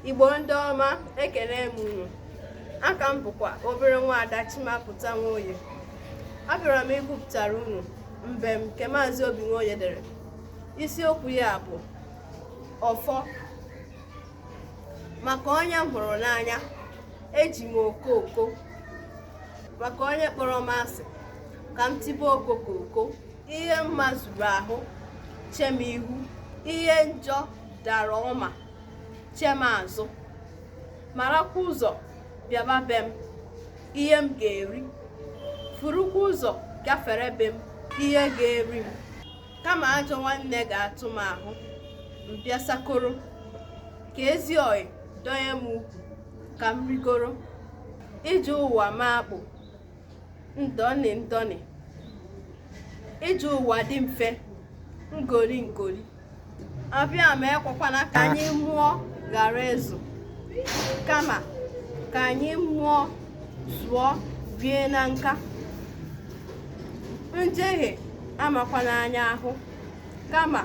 igbo ndị ọma ekele m unu aha m bụkwa obere nwa ada chimapụta nwoye abịara m ịgụpụtara unu mbem nke maazị obi nwoye dere isiokwu ya bụ ọfọ maka onye m hụrụ n'anya eji m okooko maka onye kpọrọ m asị ka m tibe okoko ihe mma zuru ahụ chee m ihu ihe njọ dara ọma chee m azụ marakwa ụzọ bịaba be m ihe m ga-eri furukwa ụzọ gafere be m ihe ga-eri m kama ajọ nwanne ga-atụ m ahụ m bịa sakoro ka ezi ọyị dọnye m ukwu ka m rigoro ije ụwa m akpụ ndọnị ndọnị ije ụwa dị mfe ngoli ngoli abịama ekwekwana ka anyị mụọ ghara ịzụ kama ka anyị mụọ zụọ bie na nka njehie amakwana anyị ahụ kama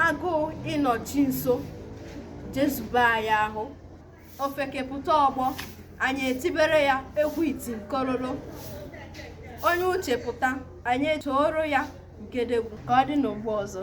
agụụ ịnọ chi nso jezube anyị ahụ ofeke pụta ọgbọ anyị etibere ya egwu iti nkololo onye uche pụta anyị etooro ya gedegwu ka ọ dị mgbe ọzọ